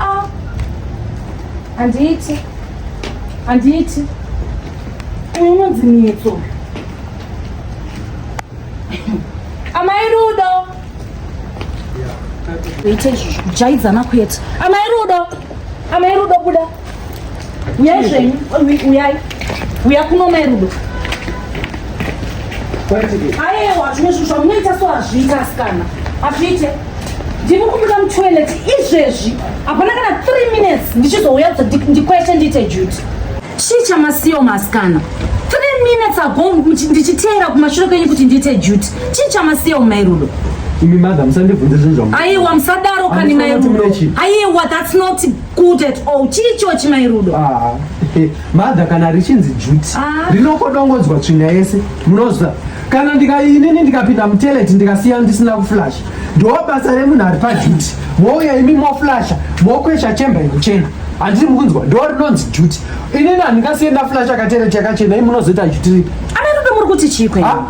Ah. Handiiti. Handiiti. Unonzi mitso. Amai Rudo. Kuita izvozvo kujaidzana kwete. Amai Rudo. Amai Rudo buda. uyai zvenyu uyai uya kuno mai rudo ayewa zvimwe zvinhu zvamunoita so hazviita asikana hazviite ndiri kumuda mutoilet izvezvi hapana kana three minutes ndichizouya ndikweshe ndiite duty chii chamasiyo maasikana three minutes ago ndichiteera kumashure kwenyu kuti ndiite duty chii chamasiyo mai rudo imi madha musandibvunze zvinhu zvamu aiwa musadaro kani mai rudo aiwa that's not Good at all. Chii chochi mai Rudo? Ah, eh, mother kana richinzi duty Ah. rinokodongodzwa tsvinga yese munoziva kana ndika inini ndikapinda muteleti ndikasiya ndisina kuflash ndoo basa remunhu ari paduty mouya imi moflasha mokwesha chemba yekuchena handiti mukunzwa ndoo rinonzi duty inini handingasiye ndaflasha kateleti yakachena imi munozoita duty ripi Amai Rudo muri kuti chii kwenu? Ah,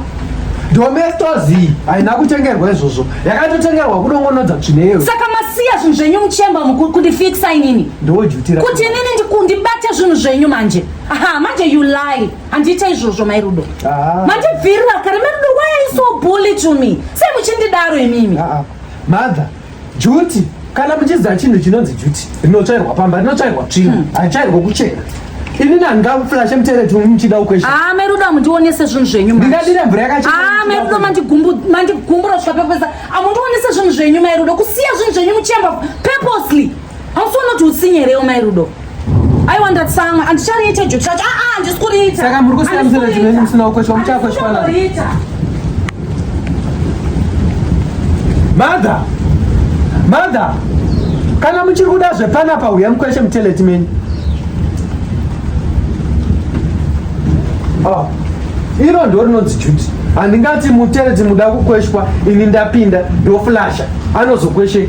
domestozii haina kutengerwa izvozvo yakatotengerwa kudongonodza tsvineyo saka masiya zvinhu zvenyu muchemba mukuru kundifikisa inini ndojutira kuti inini ndikundibate zvinhu zvenyu manje aha manje you lie handiita izvozvo mai rudo ah. mandibvirira kare mai rudo why are you so bully to me sei muchindidaro imimi ah, ah. mother juti kana muchiziva chinhu chinonzi juti rinotsvairwa pamba rinotsvairwa tsvina hmm. haitsvairwa kuchena ini nandingafulashe mutereti muchida ukwesha ah, meruda mundionese zvinhu zvenyu ndingadire mvura yakachena ah, meruda mandigumbura zvapepesa amundionese ah, zvinhu zvenyu mairudo kusiya zvinhu zvenyu muchemba purposely hausi unoti usinyerewo mairudo aiwa ndatsanga andichariita juti racho aa handisi kuriita saka muri kusiya musina chimene musina kukweshwa muchakweshwana mother mother kana muchiri kuda zvepanapa huya mukweshe muteleti menyu oh. iro ndo rinonzi juti handingati muteleti muda kukweshwa ini ndapinda ndoflasha anozokweshe